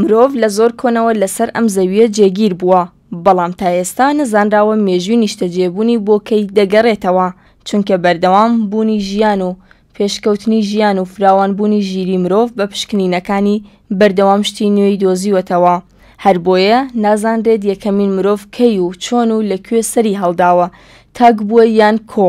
مرۆڤ لە زۆر کۆنەوە لەسەر ئەم زەویە جێگیر بووە، بەڵام تا ئێستا نەزانراوە مێژووی نیشتەجێبوونی بۆ کەی دەگەرێتەوە، چونکە بەردەوام بوونی ژیان و پێشکەوتنی ژیان و فراوانبوونی ژیری مرۆڤ بە پشکنینەکانی بەردەوام شتی نوێی دۆزیوەتەوە، هەربۆیە نازانرێت یەکەمین مرۆڤ کەی و چۆن و لە کوێ سەری هەڵداوە، تاک بووە یان کۆ.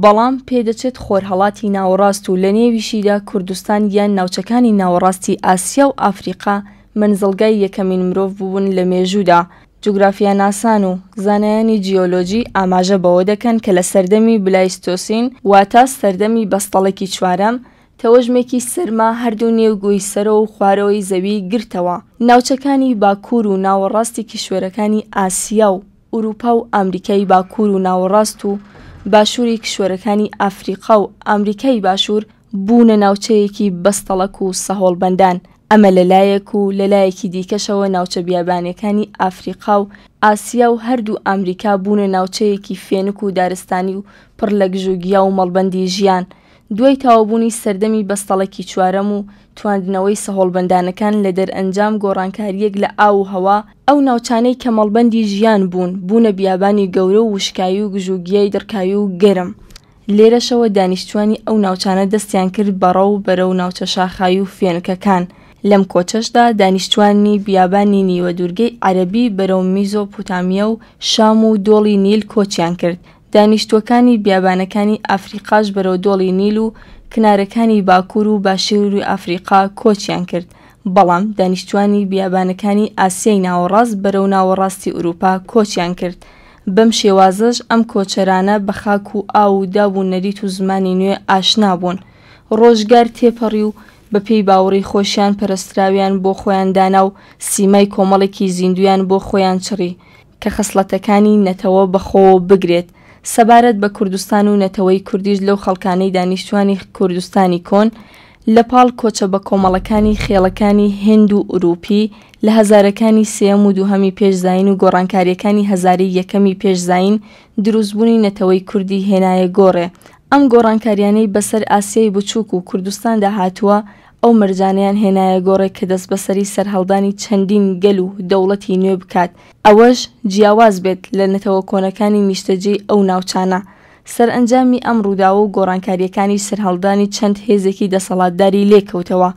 بەڵام پێدەچێت خۆرهەڵاتی ناوەڕاست و لەنێویشیدا کوردستان یان ناوچەکانی ناوەڕاستی ئاسیا و ئەفریقا مەنزڵگای یەکەمین مرۆڤ بوون لە مێژوودا، جوگرافیاناسان و زانایانی جیۆلۆجی ئاماژە بەوە دەکەن کە لە سەردەمی بلایستۆسین واتە سەردەمی بەستەڵەکی چوارەم تەوەژمێکی سەرما هەردوو نێو گۆی سەرەوە و خوارەوەی زەوی گرتەوە ناوچەکانی باکوور و ناوەڕاستی کیشوەرەکانی ئاسیا و ئورووپا و ئامریکای باکوور و ناوەڕاست و باشووری کیشوەرەکانی ئافریقا و ئامریکای باشوور بوونە ناوچەیەکی بەستەڵەک و سەهۆڵبەندان، ئەمە لە لایەک و لە لایەکی دیکەشەوە ناوچە بیابانیەکانی ئافریقا و ئاسیا و هەردوو ئامریکا بوونە ناوچەیەکی فێنک و دارستانی و پڕ لە گژوگیا و مەڵبەندی ژیان، دوای تەواوبوونی سەردەمی بەستەڵەکی چوارەم و تواندنەوەی سەهۆڵبەندانەکان لە دەرئەنجام گۆڕانکارییەک لە ئاو و هەوا، ئەو ناوچانەی کە مەڵبەندی ژیان بوون، بوونە بیابانی گەورە و وشکایی و گژوگیای دڕکاوی و گەرم. لێرەشەوە دانیشتووانی ئەو ناوچانە دەستیان کرد بە ڕەو بەرەو ناوچە شاخاوی و فێنکەکان، لەم کۆچەشدا دانیشتووانی بیابانی نیوەدوورگەی عەرەبی بەرەو میزۆپوتامیا و شام و دۆڵی نیل کۆچیان کرد، دانیشتووەکانی بیابانەکانی ئەفریقاش بەرەو دۆڵی نیل و کنارەکانی باکوور و باشووری ئەفریقا کۆچیان کرد، بەڵام دانیشتووانی بیابانەکانی ئاسیای ناوەڕاست بەرەو ناوەڕاستی ئورووپا کۆچیان کرد، بەم شێوازەش ئەم کۆچەرانە بە خاک و ئاو و داب و نەریت و زمانی نوێ ئاشنا بوون. ڕۆژگار تێپەڕی و بە پێی باوەڕی خۆشیان پەرەستراویان بۆ خۆیان دانا و سیمای کۆمەڵێکی زیندوویان بۆ خۆیان چڕی، کە خەسڵەتەکانی نەتەوە بەخۆوە بگرێت، سەبارەت بە کوردستان و نەتەوەی کوردیش لەو خەڵکانەی دانیشتوانی کوردستانی کۆن لە پاڵ کۆچە بەکۆمەڵەکانی خێڵەکانی هند و ئورووپی لە هەزارەکانی سێیەم و دووهەمی پێش زایین و گۆڕانکارییەکانی هەزارەی یەکەمی پێش زایین درووستبوونی نەتەوەی کوردی هێنایە گۆڕێ ئەم گۆڕانکارییانەی بەسەر ئاسیای بچووک و کوردستاندا هاتووە ئەو مەرجانەیان هێنایە گۆڕێ کە دەستبەسەری سەرهەڵدانی چەندین گەل و دەوڵەتی نوێ بکات، ئەوەش جیاواز بێت لە نەتەوە کۆنەکانی نیشتەجێی ئەو ناوچانە. سەرئەنجامی ئەم ڕووداوە و گۆڕانکارییەکانیش سەرهەڵدانی چەند هێزێکی دەسەڵاتداری لێ کەوتەوە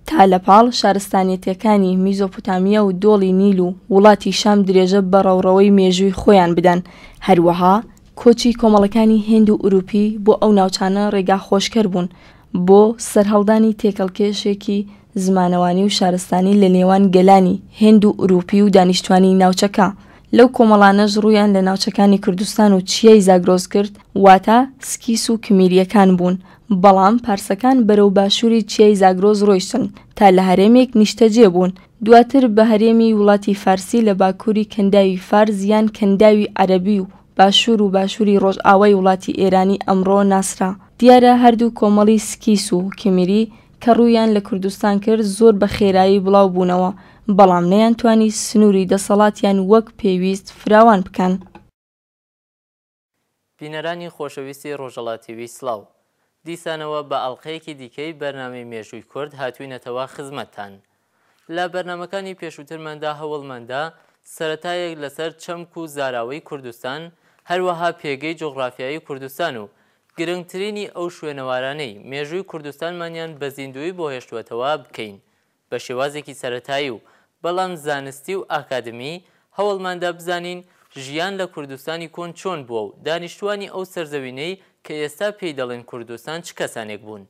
تا لە پاڵ شارستانیەتەکانی میزۆپۆتامیا و دۆڵی نیل و وڵاتی شام درێژە بە ڕەوڕەوەی مێژووی خۆیان بدەن. هەروەها کۆچی کۆمەڵەکانی هێند و ئورووپی بۆ ئەو ناوچانە ڕێگاخۆشکەر بوون بۆ سەرهەڵدانی تێکەڵکێشێکی زمانەوانی و شارستانی لە نێوان گەلانی هێند و ئورووپی و دانیشتوانی ناوچەکە، لەو کۆمەڵانەش ڕوویان لە ناوچەکانی کوردستان و چیای زاگرۆس کرد واتە سکیس و کمیرییەکان بوون بەڵام پارسەکان بەرەو باشووری چیای زاگرۆس ڕۆیشتن تا لە هەرێمێک نیشتەجێ بوون دواتر بە هەرێمی وڵاتی فارسی لە باکووری کەنداوی فارس یان کەنداوی عەرەبی و باشوور و باشووری ڕۆژئاوای وڵاتی ئێرانی ئەمڕۆ ناسرا. دیارە هەردوو کۆمەڵی سکیس و کیمیری کە ڕوویان لە کوردستان کرد زۆر بە خێرایی بڵاو بوونەوە، بەڵام نەیانتوانی سنووری دەسەڵاتیان وەک پێویست فراوان بکەن. بینەرانی خۆشەویستی ڕۆژەڵا تیوی سڵاو. دیسانەوە بە ئەڵقەیەکی دیکەی بەرنامەی مێژووی کورد هاتووینەتەوە خزمەتتان. لە بەرنامەکانی پێشووترماندا هەوڵمان دا سەرەتایەک لەسەر چەمک و زاراوەی کوردستان، هەروەها پێگەی جوغرافیایی کوردستان و گرنگترینی ئەو شوێنەوارانەی مێژووی کوردستانمانیان بە زیندوویی بۆ هێشتووەتەوە بکەین بە شێوازێکی سەرەتایی و بەڵام زانستی و ئاکادمی، هەوڵمان دا بزانین ژیان لە کوردستانی کۆن چۆن بووە و دانیشتووانی ئەو سەرزەوینەی کە ئێستا پێی دەڵێن کوردستان چ کەسانێک بوون.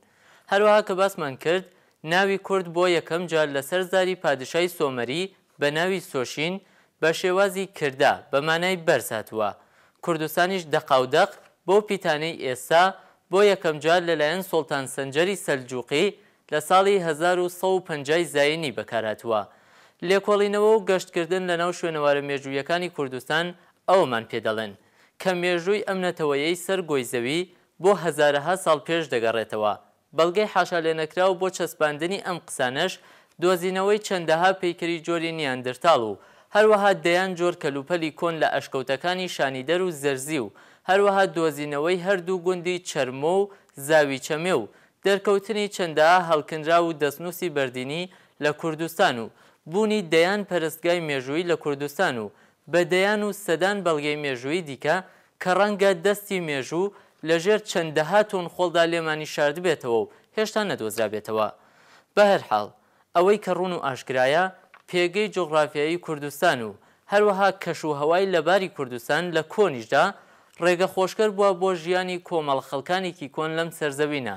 هەروەها کە باسمان کرد ناوی کورد بۆ یەکەم جار لەسەر زاری پادشای سۆمەری بە ناوی سۆشین بە شێوازی کردا بە مانای بەرز هاتووە کوردستانیش دەقاودەق بەو پیتانەی ئێستا بۆ یەکەم جار لەلایەن سوڵتان سەنجەری سەلجووقی لە ساڵی هەزار و سەد و پەنجا ی زاینی بەکار هاتووە لێکۆڵینەوە و گەشتکردن لەناو شوێنەوارە مێژوویەکانی کوردستان ئەوەمان پێ دەڵێن کە مێژووی ئەم نەتەوەیەی سەر گۆی زەوی بۆ هەزارەها ساڵ پێش دەگەڕێتەوە بەڵگەی حاشالێنەکراو بۆ چەسپاندنی ئەم قسانەش دۆزینەوەی چەندەها پەیکەری جۆری نیاندرتاڵ و هەروەها دەیان جۆر کەلوپەلی کۆن لە ئەشکەوتەکانی شانیدەر و زەرزی و هەروەها دۆزینەوەی هەردوو گوندی چەرمۆ و زاوی چەمێ و دەرکەوتنی چەندەها هەڵکنراو و دەستنووسی بەردینی لە کوردستان و بوونی دەیان پەرستگای مێژوویی لە کوردستان و بە دەیان و سەدان بەڵگەی مێژوویی دیکە کە ڕەنگە دەستی مێژوو لە ژێر چەندەها تۆن خۆڵدا لێمانی شاردبێتەوە و هێشتا نەدۆزرابێتەوە. بەهەرحاڵ، ئەوەی کە ڕوون و ئاشکرایە، پێگەی جوغرافیایی کوردستان و هەروەها کەش و هەوای لەباری کوردستان لە کۆنیشدا ڕێگە خۆشکەر بووە بۆ ژیانی کۆمەڵە خەڵکانێکی کۆن لەم سەرزەوینە،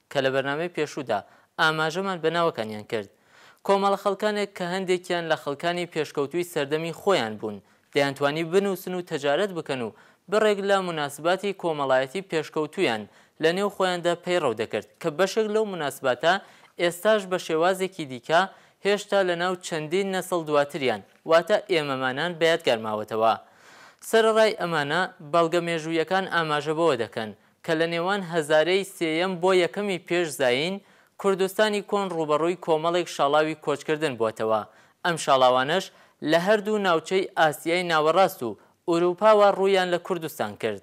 کە لە بەرنامەی پێشوودا ئاماژەمان بە ناوەکانیان کرد، کۆمەڵە خەڵکانێک کە هەندێکیان لە خەڵکانی پێشکەوتووی سەردەمی خۆیان بوون، دەیانتوانی بنووسن و تەجارەت بکەن و بڕێک لە موناسباتی کۆمەڵایەتی پێشکەوتوویان لە نێو خۆیاندا پەیڕەو دەکرد، کە بەشێک لەو موناسباتە ئێستاش بە شێوازێکی دیکە هێشتا لە ناو چەندین نەسڵ دواتریان، واتە ئێمەمانان بە یادگار ماوەتەوە. سەرەڕای ئەمانە، بەڵگە مێژوویەکان ئاماژە بەوە دەکەن، کە لە نێوان هەزارەی سێیەم بۆ یەکەمی پێش زایین، کوردستانی کۆن ڕووبەڕووی کۆمەڵێک شاڵاوی کۆچکردن بۆتەوە، ئەم شاڵاوانەش لە هەردوو ناوچەی ئاسیای ناوەڕاست و ئورووپاوە ڕوویان لە کوردستان کرد.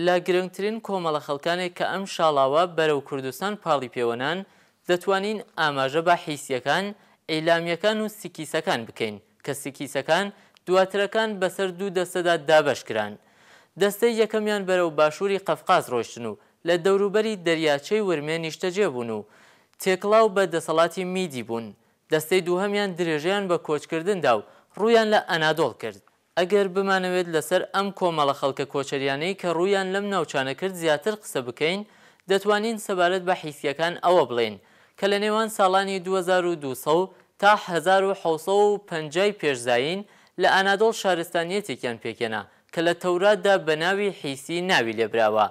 لە گرنگترین کۆمەڵە خەڵکانێک کە ئەم شاڵاوە بەرەو کوردستان پاڵی پێوە نان، دەتوانین ئاماژە بە حیسیەکان، ئیلامیەکان و سکیسەکان بکەین کە سکیسەکان دواترەکان بەسەر دوو دەستەدا دابەش کران. دەستەی یەکەمیان بەرەو باشووری قەفقاز ڕۆیشتن و لە دەوروبەری دەریاچەی ورمێ نیشتەجێ بوون و تێکڵاو بە دەسەڵاتی میدی بوون. دەستەی دووهەمیان درێژەیان بە کۆچکردن دا و ڕوویان لە ئەنادۆڵ کرد. ئەگەر بمانەوێت لەسەر ئەم کۆمەڵە خەڵکە کۆچەریانەی کە ڕوویان لەم ناوچانە کرد زیاتر قسە بکەین، دەتوانین سەبارەت بە حیسییەکان ئەوە بڵێین، کە لە نێوان ساڵانی دوو هەزار و دوو سەد تا هەزار و حەوت سەد و پەنجا ی پێش زایین لە ئانادۆڵ شارستانییەتێکیان پێکهێنا کە لە تەوراتدا بە ناوی حیسی ناوی لێبراوە.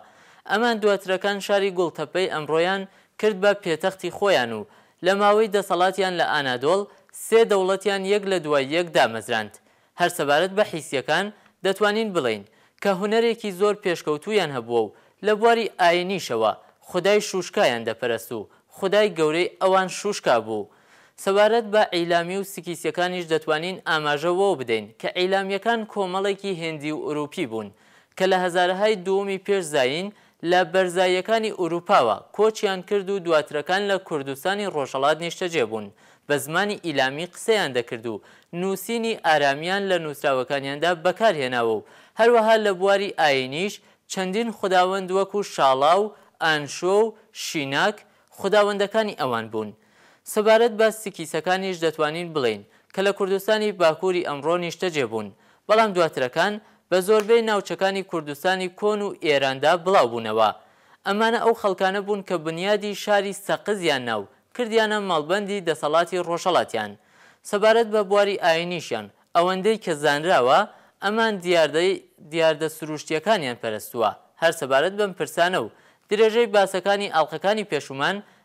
ئەمان دواترەکان شاری گوڵتەپەی ئەمڕۆیان کرد بە پێتەختی خۆیان و لە ماوەی دەسەڵاتیان لە ئانادۆڵ سێ دەوڵەتیان یەک لە دوای یەک دامەزراند. هەر سەبارەت بە حیسییەکان، دەتوانین بڵێین، کە هونەرێکی زۆر پێشکەوتوویان هەبووە و لە بواری ئایینیشەوە، خودای شووشکایان دەپەرست و خودای گەورەی ئەوان شووشکا بوو. سەبارەت بە ئیلامی و سکیسییەکانیش دەتوانین ئاماژە وەوە بدەین، کە ئیلامییەکان کۆمەڵێکی هێندی و ئورووپی بوون، کە لە هەزارەهای دووەمی پێش زایین لە بەرزاییەکانی ئورووپاوە کۆچیان کرد و دواترەکان لە کوردستانی ڕۆژهەڵات نیشتەجێ بوون، بە زمانی ئیلامی قسەیان دەکرد و نووسینی ئارامییان لە نووسراوەکانیاندا بەکار هێناوە و هەروەها لە بواری ئایینیش چەندین خوداوەند وەکوو شاڵا و ئانشۆ و شیناک خوداوەندەکانی ئەوان بوون. سەبارەت بە سکیسەکانیش دەتوانین بڵێین کە لە کوردستانی باکووری ئەمڕۆ نیشتەجێ بوون، بەڵام دواترەکان بە زۆربەی ناوچەکانی کوردستانی کۆن و ئێراندا بڵاو بوونەوە. ئەمانە ئەو خەڵکانە بوون کە بنیادی شاری سەقزیان نا و کردیانە مەڵبەندی دەسەڵاتی ڕۆژهەڵاتیان. سەبارەت بە بواری ئایینیشیان، ئەوەندەی کە زانراوە ئەمان دیاردەی دیاردە سرووشتییەکانیان پەرستووە. هەر سەبارەت بەم پرسانە و درێژەی باسەکانی ئاڵقەکانی پێشوومان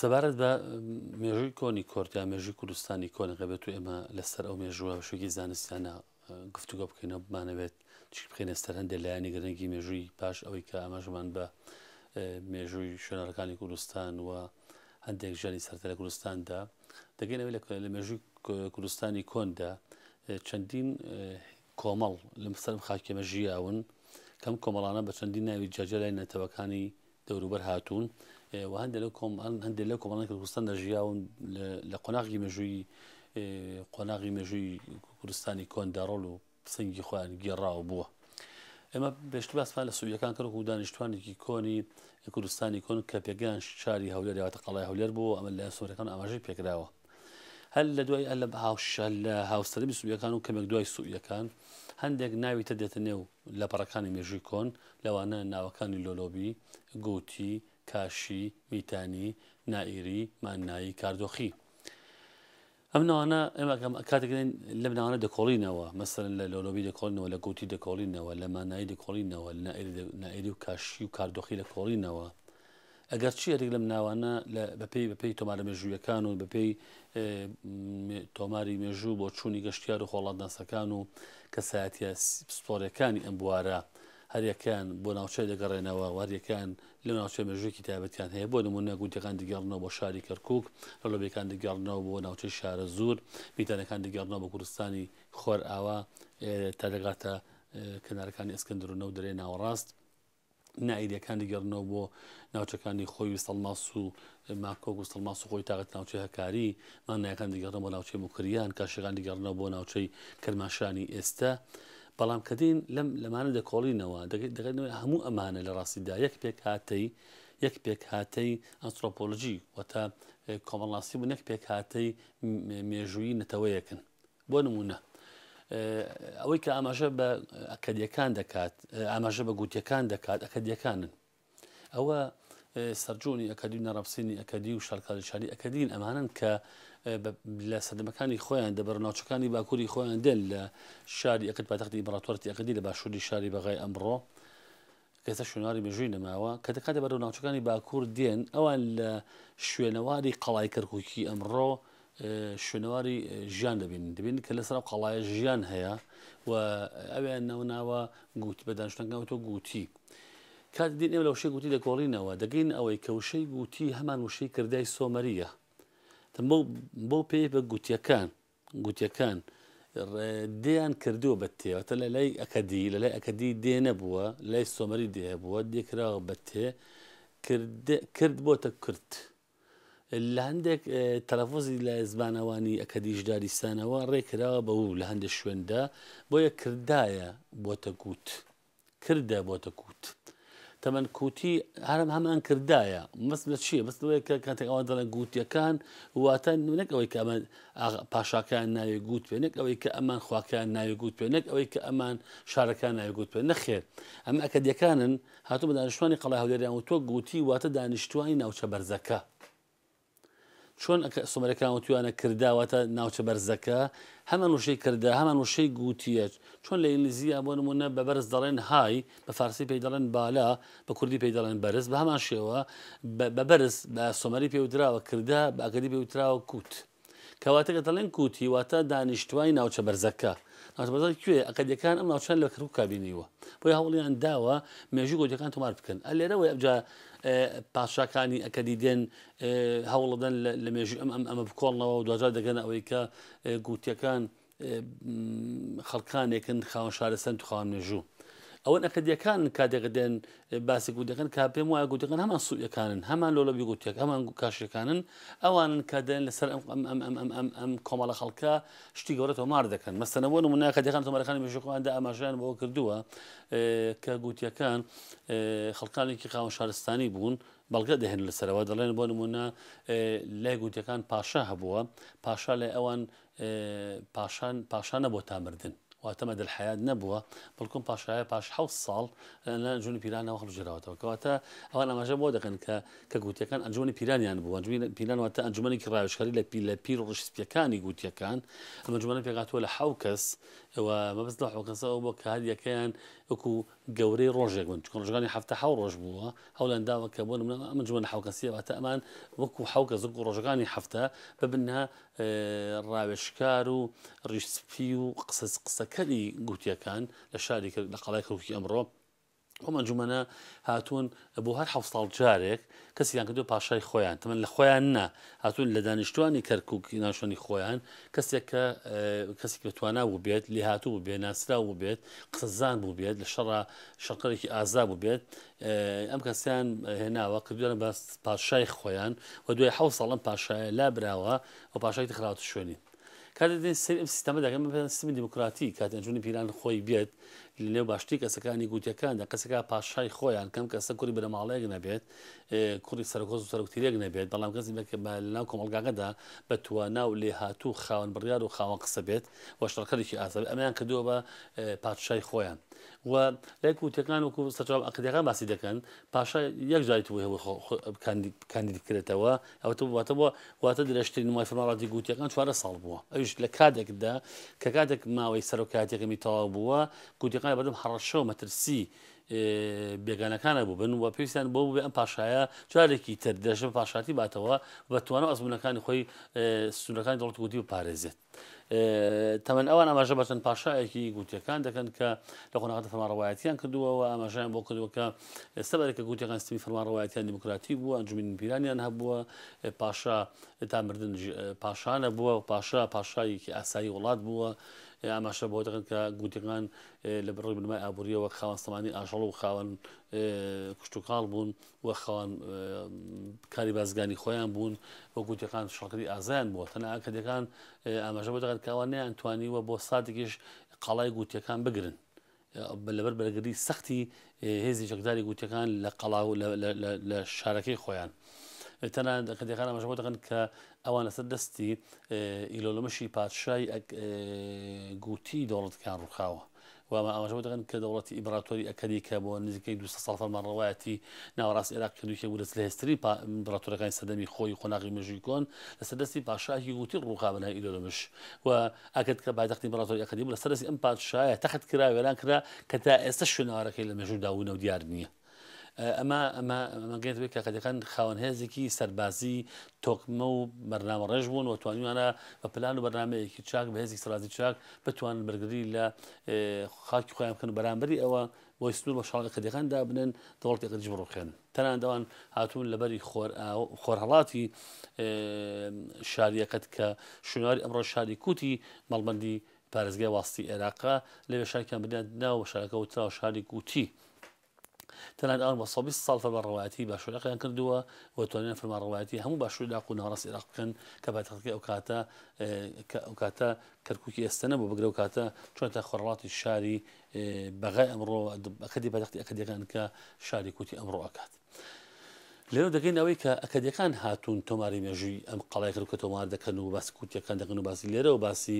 سەبارەت بە مێژووی کۆنی کۆرت یا مێژووی کوردستانی کۆنەکە بێت و ئێمە لەسەر ئەو مێژووە شوێکی زانستیانە گفتوگە بکەینەوە بمانەوێت چی بخێنە سەر هەندێک لایەنی گرنگی مێژووی پاش ئەوەی کە ئاماژمان بە مێژووی شوێنەرەکانی کوردستان و هەندێک ژانی سەرتە لە کوردستاندا دەگەینەوە لە مێژووی کوردستانی کۆندا چەندین کۆمەڵ لەم سەرم خاکێمە ژیاون کەم کۆمەڵانە بە چەندین ناوی جاجە لای نەتەوەکانی دەوروبەر هاتوون و هەندێک لەو کۆم هەندێک لەو کۆمەڵانی کوردستان دەژیاون لە قۆناغی مێژووی قۆناغی مێژووی کوردستانی کۆندا ڕۆڵ و سنگی خۆیان گێڕاوە بووە. ئێمە پێشتر باسمان لە سووریەکان کرد و دانیشتوانێکی کۆنی کوردستانی کۆن کە پێگەیان شاری هەولێر یاواتە قەڵای هەولێر بوو ئەمە لە سوورەکان ئاماژەی پێکراوە هەر لە دوای ئەلە هاوسەری میسوریەکان و کەمێک دوای سوئیەکان هەندێک ناوی تر دێتە نێو لە پەڕەکانی مێژووی کۆن لەوانە ناوەکانی لۆلۆبی، گوتی، کاشی، میتانی، نائیری، ماننایی، کاردۆخی. ئەم ناوانە ئێمە کاتێکین لە بناوانە دەکۆڵینەوە مەسەر لە لۆلۆبی دەکۆڵینەوە لە گوتی دەکۆڵینەوە لە مانایی دەکۆڵینەوە لە نائری و کاشی و کاردۆخی لە کۆڵینەوە ئەگەر چی یەریک لەم ناوانە بەپێی بەپێی تۆمارە مێژوویەکان و بەپێی تۆماری مێژوو بۆ چووی گەشتیار و خۆڵاتناسەکان و کەسایەتە پسپۆرەکانی ئەم بوارە هەریەکان بۆ ناوچەی دەگەڕێنەوە واریەکان لە ناوچە مێژوویکی تابەتیان هەیە بۆ نمونە گوتەکان دەگەڕنەوە بۆ شاری کەرکک لە لۆبیەکان دەگەڕنەوە بۆ ناوچەی شارە زور میتانەکان دەگەڕنەوە بە کوردستانی خۆر ئاوا تا دەگاتە کەنارەکانی ئەسکەندرونە و دەرێ ناوەڕاست نائیریەکان دەگەڕنەوە بۆ ناوچەکانی خۆی سەڵماس و ماکۆک و سەڵماس و خۆی تاقەت ناوچەی هەکاری مانایەکان دەگەڕن بۆ ناوچەی مکریان کاشەکان دەگەڕنەوە بۆ ناوچەی کرماشانی ئێستا بەڵام کە دین لەم لەمانە دەکۆڵینەوە دەگەنەوە هەموو ئەمانە لە ڕاستیدا یەک پێک هاتەی یەک پێک هاتەی ئەنسۆپۆلژی وەتا کۆمەڵناسی بوو نەک پێک هاتەی مێژووی نەتەوەیەکن بۆ نموونە ئەوەی کە ئاماژە بە ئەکەدیەکان دەکات ئاماژە بە گوتیەکان دەکات ئەکەدیەکانن ئەوە سەرجۆنی ئەکەدی نەڕەفسینی ئەکەدی و شارکاریشاری ئەکەدین ئەمانن کە لە سەدەمەکانی خۆیان دەبەر ناوچەکانی باکووری خۆیان دێن لە شاری ئەکت پاتەختی بڕاتۆرتی ئەکەدی لە باشووری شاری بەغای ئەمڕۆ ئێستا شوێنەواری مێژووی نەماوە کە دەکاتە بەرەو ناوچەکانی باکوور دێن ئەوان لە شوێنەواری قەڵای کەرککی ئەمڕۆ شوێنەواری ژیان دەبین دەبین کە لەسەر قەڵایە ژیان هەیە و ئەویان ناوناوە گوت بە دانشتنگەوتۆ گوتی. کات دین ئێمە لە وشەی گوتی دەگۆڕینەوە دەگەین ئەوەی کە وشەی گوتی هەمان وشەی کردای سۆمەریە بۆ پێی بە گوتیەکان گوتیەکان دێیان کردووە بە تێ واتە لە لای ئەکەدی لە لای ئەکەدی دێ نەبووە لای سۆمەری دێ هەبووە دێکراوە بە تێ کرد بۆتە کورت لە هەندێک تەلەفۆزی لە زمانەوانی ئەکەدیش داریسانەوە ڕێکراوە بە و لە هەندێک شوێندا بۆیە کردایە بۆتە گووت کردە بۆتە کووت تەمەەن کوتی هەرم هەمان کردایە مەست لە چییە بەست لەوەیە کە کاتێک ئەوان دەڵێن گووتەکان واتە نونەک ئەوەی کە ئەمە پاشاکان ناوێ گووت پێ نەک ئەوەی کە ئەمان خواکان ناوێ گووت پێ نەک ئەوەی کە ئەمان شارەکان ناوێ گووت پێ نەخێر ئەم ئەکەدیەکانن هاتو بە دانیشتوانی قەڵای هەولێریان و تۆ گوتی واتە دانیشتوانی ناوچە بەرزەکە چۆن ئەکە سۆمەرەکان وتویانە کردا واتە ناوچە بەرزەکە هەمان وشەی کردا هەمان وشەی گوتیە چۆن لە ئینگلیزیە بۆ نمونە بە بەرز دەڵێن های بە فارسی پێی دەڵێن بالا بە کوردی پێی دەڵێن بەرز بە هەمان شێوە بە بەرز بە سۆمەری پێوتراوە کردا بە ئەگەری پێوتراوە کووت کەواتەکە دەڵێن کووتی واتە دانیشتوای ناوچە بەرزەکە ناوچەبەزە کوێ ئەقدەکان ئەم ناوچان لە کەرکک کابینیوە بۆی هەوڵیان داوە مێژوو گۆجەکان تۆمار بکەن ئەلێرەوەی ئەبجا پادشاکانی ئەکەدیدێن هەوڵەدەن لە مێژوی ئەم ئەم ئەمە بکۆڵنەوە و دوجار دەگەنە ئەوەی کە گوتیەکان خەڵکانێکن خاوەن شارستان تو خاوەن مێژوو. ئەوەن ئەکەدیەکان کاتێک دێن باسی گوتەکەن کا پێم وایە گوتەکەن هەمان سوودەکانن هەمان لۆ لە بیگوتێک ئەمان کاشەکانن ئەوانن کە دێن لەسەر ئەم ئەم ئەم ئەم ئەم ئەم ئەم کۆمەڵە خەڵکە شتی گەورە تۆمار دەکەن مەستەنە بۆ نمونە کە دەکان تۆمارەکانی مێژوخۆیاندا ئاماژەیان بەوە کردووە کە گوتیەکان خەڵکانێکی خاوەن شارستانی بوون بەڵگە دەهێن لەسەرەوە دەڵێن بۆ نمونە لای گوتیەکان پاشا هەبووە پاشا لای ئەوان پاشان پاشانە بۆ تامردن واتەمە دەلحیات نەبووە بەڵکم پاشایە پاش حوت ساڵ لە جون پیرانەوە هەڵژراوەتەوە کەواتە ئەوان ئەماژە بۆ دەکەن کە کە گووتیەکان ئەنجومەنی پیرانیان بوو، ئەنجومەنی پیران واتە ئەنجومەنێکی ڕاوێژکاری لە پی لە پیر و ڕیش سپیەکانی گووتیەکان، ئەم ئەنجومەنە پێکهاتووە لە حەو کەس و مەبەست لەو حەو کەسە ئەوە بووە کە هەر یەکەیان وەکو گەورەی ڕۆژێک بن، چونکە ڕۆژەکانی هەفتە حەو ڕۆژ بووە، هەوڵیان داوە کە بۆ نمونە ئەم ئەنجومەنە حەو کەسییە واتە ئەمان وەکو حەو کەس وەکو ڕۆژەکانی هەفتە ببنە ڕاوێژکار و ڕیش سپی و قسە قسەکەری گووتیەکان لە شاری کەر لە قەڵای کەرکوکی ئەمڕۆ. ئەم ئەنجومەنە هاتوون بۆ هەر حەو ساڵ جارێک کەسیان کردو پاشای خۆیان تەمەن لە خۆیان نا هاتوون لە دانیشتوانی کەرکک ناشتنی خۆیان کەسێک کە کەسی کە توانا بوو بێت لێ هاتوو بێ ناسرا بوو بێت قسەزان بوو بێت لە شەڕ شەقەرێکی ئازا بوو بێت ئەم کەسیان هێناوە کردوانە بە پاشای خۆیان و دوای حەو ساڵم پاشایە لا براوە و پاشای خراوە شوێنی کاتێ دەدەین سەیری ئەم سیستەمە دەکەن من پێم سیستمی دیموکراتی کاتێ ئەنجومەنی پیران خۆی بێت لەنێو باشتری کەسەکانی گوتیەکاندا کەسەکە پاشای خۆیان کەم کەسە کوری بنەماڵەیەک نەبێت کوڕی سەرۆکۆز و سەرکتیرێک نەبێت بەڵام کەسی لەناو کۆمەلگاکەدا بە توانا و لێهاتوو خاوەن بڕیار و خاوەن قسە بێت وەشتڕکەێکی ئازاد ئەمیان کردووە بە پادشای خۆیان و لای کوتەکان و سەرچاو عقیدەکان باسی دەکەن پاشا یەک جاری توی هەوە کاندید بکرێتەوە ئەوەتە واتە بۆ واتە درێژترین مای فەرمانڕاتی گووتیەکان چوارە ساڵ بووە ئەوش لە کاتێکدا کە کاتێک ماوەی سەرۆکاتەکەمی تەواو بووە گووتەکان بەدەم حڕەشەوە مەترسی بێگانەکانە بوو بن و پێویستیان بۆ بێ ئەم پاشایە چارێکی تر درێژە پاشاتی باتەوە بە توانە ئەزمونونەکانی خۆی سونەکانی دەڵت گوتی و پارێزێت تەمەن ئەوان ئاماژە بەچەند پاشایەکی گوتیەکان دەکەن کە لە قۆناغدا فەرمانڕەوایەتیان کردووەوە ئاماژیان بۆ کردوەکە سەبارەکە گوتیەکان سیستمی فەرمانڕەوایەتیان دیموکراتی بووە ئەنجومی پیرانیان هەبووە پاشا تا مردن پاشانە بووە و پاشا پاشایەکی ئاسایی وڵات بووە ئاماشە بۆ دەکەن کە گوتەکان لە بڕی بنمای ئابووریەوە خاوەنسەمانی ئاژەڵ و خاوەن کشتتوکاڵ بوون و خاوەن کاری بازگانی خۆیان بوون و گوتیەکان شەڵکری ئازایان بووە تەنە ئەکەدەکان ئاماژە بۆ دەکەن کەوا نیان توانی و بۆ ساتێکیش قەڵای گوتیەکان بگرن لەبەر بەرگری سەختی هێزی چەکداری گوتەکان لە قەڵا و لە شارەکەی خۆیان. تەنان دەکەدەکان ئەمەش بۆ دەکەن کە ئەوان لەسەر دەستی ئیلۆلمەشی پادشای گوتی دەوڵەتکان ڕووخاوە. و ئەمە ئاماژە بۆ دەکەن کە دەوڵەتی ئیمپراتۆری ئەکەدی کە بۆ نزیکەی دوو سەد ساڵ فەرمانڕەوایەتی ناوەڕاستی عێراق کرد و یەکێک بوو لە زلهێزترین پا ئیمپراتۆرەکانی سەردەمی خۆی و قۆناغی مێژووی کۆن لەسەر دەستی پاشایەکی گوتی ڕووخا بە ناوی ئیلۆلۆمش و ئەکەد کە پایتەختی ئیمپراتۆری ئەکەدی بوو لەسەر دەستی ئەم پادشایە تەخت کرا وێران کرا کە تا ئێستەش شوێنەوارەکەی لە مێژوودا ون و دیار نییە. ئەمە ئەمە مەگەێتەوەی کاکەەکان خاوەنهێزێکی سەربازی تۆکمە و بەرنامە ڕێژ بوون و توانیوانە بە پلان و بەرنمەیەکی چاک بە هێزی سەرازی چاک بتوان بەرگری لە خاکی خۆیان بکەن بەرامبەری ئەوە بۆی سنوور بە شڵی قەدەکان دابنن دەوڵەتی قەدیش بڕوخێن تەنان دەوان هاتوون لەبەری خۆرهڵاتی شاریەکەت کە شوێنواری ئەمڕۆ شاری کوتی مەڵبندی پارێزگای واستی ئێراقە، لەوێ شارێکیان بنیات نا و بە شارەکە وتراوە شاری گوتی. تەنانەت ئەوان بە سەد و بیست ساڵ فەرمانڕەوایەتیی باشووری عێراقیان کردووە و توانیویانە فەرمانڕەوایەتیی هەموو باشووری عێراق و ناوەڕاستی عێراق بکەن کە پایتەختەکەی ئەو کاتە کە ئەو کاتە کەرکووکی ئێستە نەبوو، بگرە ئەو کاتە چوونەتە خۆرهەڵاتی شاری بەغای ئەمڕۆ و ئەکەدی پایتەختی ئەکەدییەکان کە شاری کوتی ئەمڕۆ ئەکات. لێرەوە دەگەین ئەوەی کە ئەکەدیەکان هاتوون تۆماری مێژووی ئەم قەڵایکرد کە تۆمار دەکەن و باسی کوتیەکان دەکەن و باسی لێرەوە باسی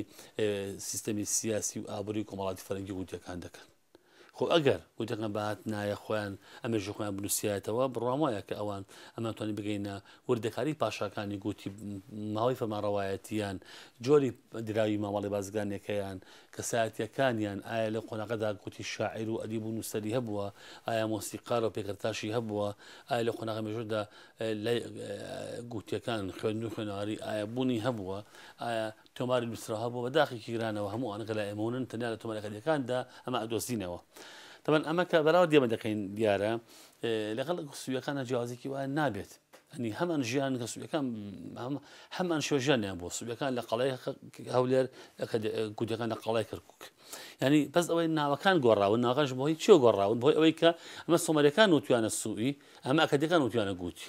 سیستەمی سیاسی و ئابووری کۆمەڵاتی فەرەنگی وتیەکان دەکەن خۆ ئەگەر وتەکان بەهات نایە خۆیان ئەمێژ خۆیان بنووسایەتەوە بڕام وایە کە ئەوان ئەمانتوانی بگەینە وردەکاری پاشاکانی گوتی ماوەی فەرمانڕەوایەتیان جۆری دراوی مامەڵی بازگانێکەیان کەسایەتییەکانیان، ئایا لە قۆناغەدا گوتی شاعیر و ئەدیب و نووسەری هەبووە؟ ئایا مۆسیقار و پێکەرتاشی هەبووە؟ ئایا لە قۆناغی مێژوودا لای گوتییەکان، خوێندن و خوێنەواری، ئایا بوونی هەبووە؟ ئایا تۆماری نووسراو هەبووە؟ بە داخی گیرانەوە هەموو ئەوانە کە لای ئێمە ونن، تەنیا لە تۆمارەکەرییەکاندا ئەمە ئەدۆزینەوە. تەبەن ئەمە کە بەراورد ئێمە دەکەین دیارە لەگەڵ سویەکانە جیازێکی وایە نابێت ئەنی هەمان ژیان کە سویەکان هەمان شێژانیان بۆ سویەکان لە قەڵای هەولێر گوودەکان لە قەڵای کەرکک ینی بەس ئەوەی ناوەکان گۆڕاون ناغش بۆی چێ گۆڕاون بۆی ئەوەی کە ئەمە سۆمەرەکان وتویانە سوئی ئەمە ئەکەدەکان وتویانە گوتی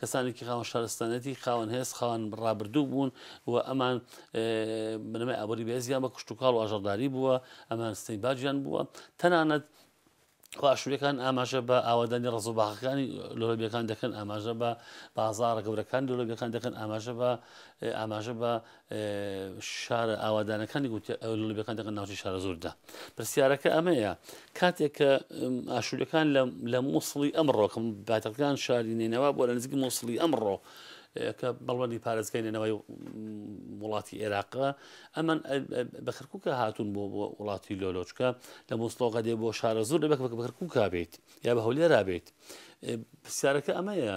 کەسانێکی خاوەن شارستانەتی، خاوەن هێز، خاوەن ڕابردوو بوون و ئەمان بنەمای ئابووری بەهێزیان بە کشتوکاڵ و ئاژەڵداری بووە، ئەمان سنەی باجیان بووە، تەنانەت ئاشوورەکان ئاماژە بە ئاوادانی ڕز و باخەکانی لۆلەبیەکان دەکەن ئاماژە بە بازارە گەورەکان لۆلەبیەکان دەکەن ئاماژە بە ئاماژە بە شارە ئاوادانەکانی گوتە لۆبەکان دەکەن ناوچی شارە زۆردا پرسیارەکە ئەمەیە کاتێک کە ئاشوورەکان لە مووسڵی ئەمڕۆکەم باتەکان شاری نێنەوە بۆ لە نزیک مووسڵی ئەمڕۆ کە بەڵبندی پارێزگای نەوەی وڵاتی عێراقە ئەمە بە کرکووکە هاتوون بۆ بۆ وڵاتی لۆلۆچکە لە مۆسلۆغە دێ بۆ شارە زۆر لە بەک بە کرکووکا بێت یا بە هەولێرا بێت پرسیارەکە ئەمەیە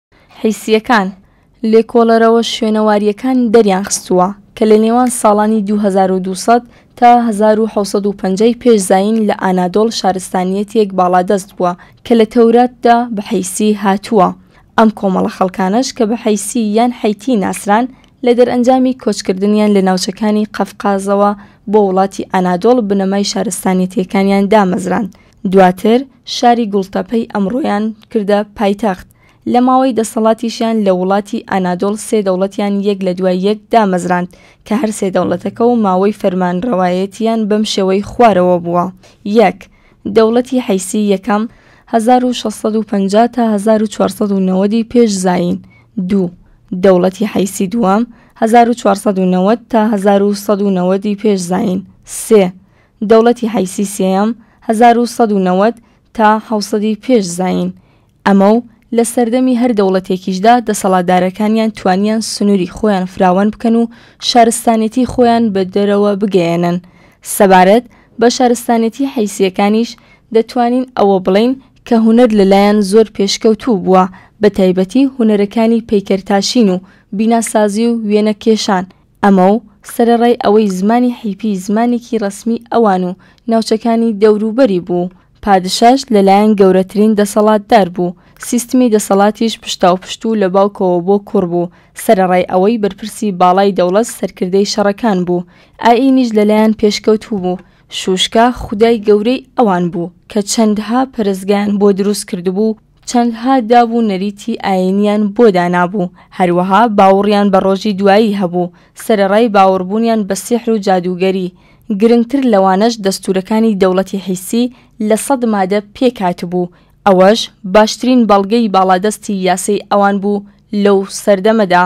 حیسییەکان، لێکۆڵەرەوە شوێنەوارییەکانی دەریانخستووە کە لە نێوان ساڵانی دوو هەزار و دوو سەد تا هەزار و حەوت سەد و پەنجا ی پێش زایین لە ئانادۆڵ شارستانییەتێک باڵادەست بووە کە لە تەوراتدا بە حیسی هاتووە، ئەم کۆمەڵە خەڵکانەش کە بە حیسی یان حیتی ناسران لە دەرئەنجامی کۆچکردنیان لە ناوچەکانی قەفقازەوە بۆ وڵاتی ئانادۆڵ بنەمای شارستانییەتەکانیان دامەزراند دواتر شاری گوڵتەپەی ئەمڕۆیان کردە پایتەخت، لە ماوەی دەسەڵاتیشیان لە وڵاتی ئانادۆڵ سێ دەوڵەتیان یەک لە دوای یەک دامەزراند کە هەر سێ دەوڵەتەکە و ماوەی فەرمانرەوایەتییان بەم شێوەی خوارەوە بووە، یەک. دەوڵەتی حیسی یەکەم، هەزار و شەش سەد و پەنجا تا هەزار و چوار سەد و نەوەد ی پێش زایین، دوو. دەوڵەتی حیسی دووەم، هەزار و چوار سەد و نەوەد تا هەزار و سەد و نەوەد ی پێش زایین، سێ. دەوڵەتی حیسی سێیەم، هەزار و سەد و نەوەد تا حەوت سەدی پێش زایین، ئەمە و لە سەردەمی هەر دەوڵەتێکیشدا دەسەڵاتدارەکانیان توانیان سنووری خۆیان فراوان بکەن و شارستانێتی خۆیان بە دەرەوە بگەیەنن. سەبارەت بە شارستانێتی حیسییەکانیش دەتوانین ئەوە بڵێین کە هونەر لەلایان زۆر پێشکەوتوو بووە بەتایبەتی هونەرەکانی پەیکەرتاشین و بیناسازی و وێنەکێشان، ئەمە و سەرەڕای ئەوەی زمانی حیپی زمانێکی ڕەسمیی ئەوان و ناوچەکانی دەوروبەری بوو، پادشاش لەلایەن گەورەترین دەسەڵاتدار بوو، سیستمی دەسەڵاتیش پشتاوپشت و لە باوکەوە بۆ کوڕ بوو، سەرەڕای ئەوەی بەرپرسی باڵای دەوڵەت سەرکردەی شەڕەکان بوو، ئایینیش لەلایان پێشکەوتوو بوو، شووشکا خودای گەورەی ئەوان بوو کە چەندەها پەرستگایان بۆ دروست کردبوو و چەندها داب و نەریتی ئایینییان بۆ دانابوو، هەروەها باوڕیان بە ڕۆژی دوایی هەبوو، سەرەڕای باوڕبوونیان بە سیحر و جادووگەری، گرنگتر لەوانەش دەستوورەکانی دەوڵەتی حیسی لە سەد مادە پێک هاتبوو، ئەوەش باشترین بەڵگەی باڵادەستی یاسەی ئەوان بوو لەو سەردەمەدا.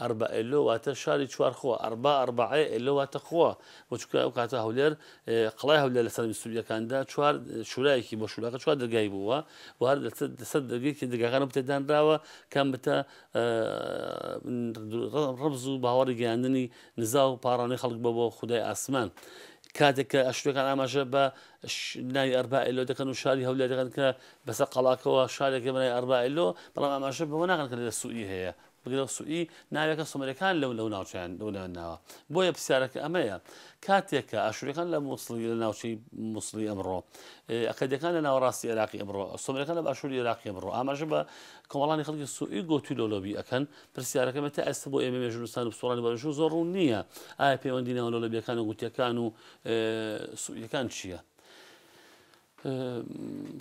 ئەربا ئێلۆ واتە شاری چوار خۆ، ئەربا ئەرباعێ ئێلۆ واتە خۆ، بۆ چونکە ئەو کاتە هەولێر قەڵای هەولێر لە سەرمی سوریەکاندا چوار شورایەکی بۆ شوراکە چوار دەرگای بووە و هەر لەسەر دەرگێکی دەرگاکان بتە دانراوە کام بتە ڕەبز و باوەڕی گەیاندنی نزا و پاڕانەی خەڵک بۆ بۆ خودای ئاسمان کاتێک کە ئەشتەکان ئاماژە بە ناوی ئەربائلۆ دەکەن و شاری هەولێ دەکەن کە بەسە قەڵاکەوە شارێکە بنای ئەربائلۆ بەڵام ئاماژە بەوە ناکەن کە لە سووری هەیە بگرە سوئی ناوێکە سومەریەکان لەو لەو ناوچەیان لەو لەوێن ناوە بۆیە پرسیارەکە ئەمەیە کاتێکە ئاشوریەکان لە مووسڵی لە ناوچەی مووسڵی ئەمڕۆ ئەکەدەکان لە ناوەڕاستی عێراقی ئەمڕۆ سومەرەکان لە باشووری عێراقی ئەمڕۆ ئاماژە بە کۆمەڵانی خەڵکی سوئی گۆتی لۆلۆبی ئەکەن پرسیارەکەمە تا ئێستا بۆ ئێمە مێژونستان و پسوڵانی بەژوو زۆر ڕوون نییە ئایا پەیوەندی ناوە لۆلۆبیەکان و گوتیەکان و سوئیەکان چییە؟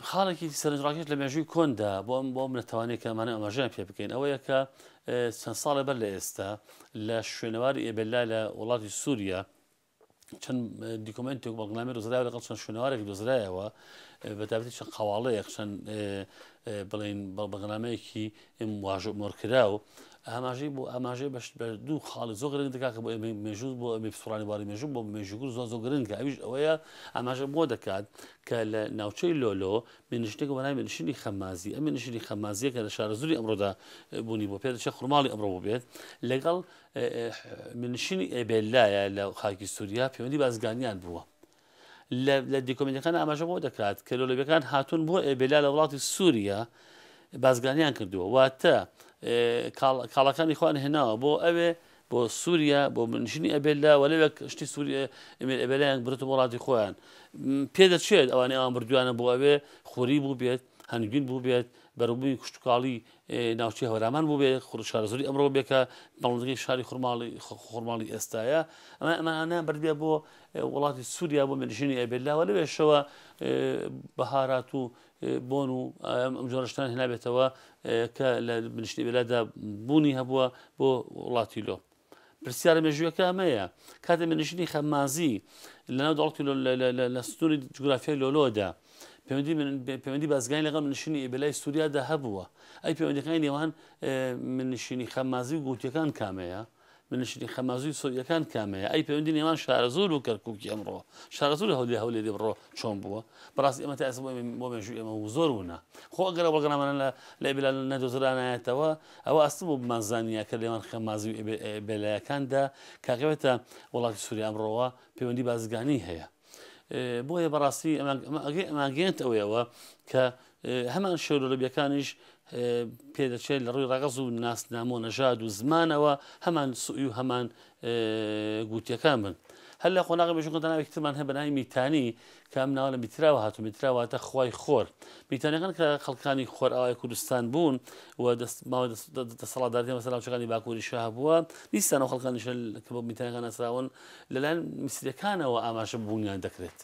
خاڵێکی سەرنجڕاکێش لە مێژووی کۆندا بۆ ئەم بۆ ئەم لە توانێت کە ئەمانە ئەماژیان پێ بکەین ئەوەیە کە چەند ساڵێ بەر لە ئێستا لە شوێنەواری ئێبللا لە وڵاتی سووریا چەند دیکۆمنتێک بەڵنامی دۆزرای لەگەڵ چەند شوێنەوارێک دۆزرایەوە بەتابەتی چەند قواڵەیەک چەند بڵین بەڵبغنامەیەکی م واژۆ مۆرکراو ئاماژەی بۆ ئاماژەی بەش بە دوو خاڵی زۆ گرنگ دەکات کە بۆ ئێمەی مێژوو بۆ ئەمی پسڕانی باری مێژوو بۆ مێژووگر زۆ زۆ گرنگە ئەویش ئەوەیە ئاماژە بۆ دەکات کە لە ناوچەی لۆلۆ مێنشتێک بەناوی مێنشتنی خەمازی ئەم مێنشتنی خەمازیە کە لە شارەزوری ئەمڕۆدا بوونی بۆ پێ دەچێت خورماڵی ئەمڕۆ بووبێت لەگەڵ مێنشتنی ئێبێلایە لە خاکی سووریا پەیوەندی بازگانیان بووە لە دیکۆمێنتەکان ئاماژە بەوە دەکات کە لۆلەبیەکان هاتوون بۆ ئێبێلا لە وڵاتی سووریا بازگانیان کردووە واتە کاڵەکانی خوان هێناوە بۆ ئەوێ بۆ سووریا بۆ منشنی ئەبێلا وە لەوێک شتی سووریە ئەمێر ئەبێلایان برتە وڵاتی خۆیان پێ دەچێت ئەوانەی ئەوان بردوانە بۆ ئەوێ خوری بوو بێت هەنگوین بوو بێت بەرەبووی کوشتتوکاڵی ناوچەی هەورامان بووبێ خور شارەزووری ئەمڕۆ بێ کە باڵندگەی شاری خورماڵی خورماڵی ئێستاە ئەمە ئەمانە بردێ بۆ وڵاتی سووریا بۆ منژینی ئەبێت لاوە لەوێشەوە بەهارات و بۆن و ئەم جۆرشتان هێنابێتەوە کە لە منشتی بێلادا بوونی هەبووە بۆ وڵاتی لۆ پرسیارە مێژوویەکە ئەمەیە کاتێ منشینی خەممازی لەناو دەڵک لە سنووری جوگرافیای لۆلۆدا پەیوەندی پەیوەندی بازگانی لەگەڵ منشینی ئیبلای سووریادا هەبووە ئەی پەیوەندەکانی نێوان منشینی خەممازی و گوتیەکان کامەیە منشینی خەمازوی سووریەکان کامەیە ئەی پەیوەندی نێوان شارەزور و کەرککی ئەمڕۆ شارەزور هەولێ هەولێ دێ بڕۆ چۆن بووە بەڕاست ئێمە تا ئێستا بۆ مێژوو ئێمە و زۆر ونا خۆ ئەگەرە بەڵگەنامانە لە لە ئیبلال نەدۆزرانایەتەوە ئەوە ئاستم بۆ بمانزانییە کە لێوان خەمازی و ئێبێلایەکاندا کاکەوێتە وڵاتی سووریا ئەمڕۆوە پەیوەندی بازرگانی هەیە. بۆیە بەڕاستی ئەمانگەێنت ئەوەیەوە کە هەمان شێرۆلەبیەکانیش پێدەچێت لە ڕووی ڕەگەز و ناسنامۆ نەژاد و زمانەوە هەمان سوی و هەمان گووتیەکان بن هەر لە قۆناغی مێژووکە ناوێکی ترمان هەیە بە ناوی میتانی کە ئەم ناوە لە میتراوە هاتو میتراواتە خوای خۆر میتانەکان کە خەڵکانی خۆر ئاوای کوردستان بوون و دەست ماوە دەسەڵاتداری مەسە ناوچەکانی باکووری شاه بووە دیسانەوە خەڵکانیش کە بۆ میتانەکان ناسراون لەلایەن میسرەکانەوە ئاماژە بوونیان دەکرێت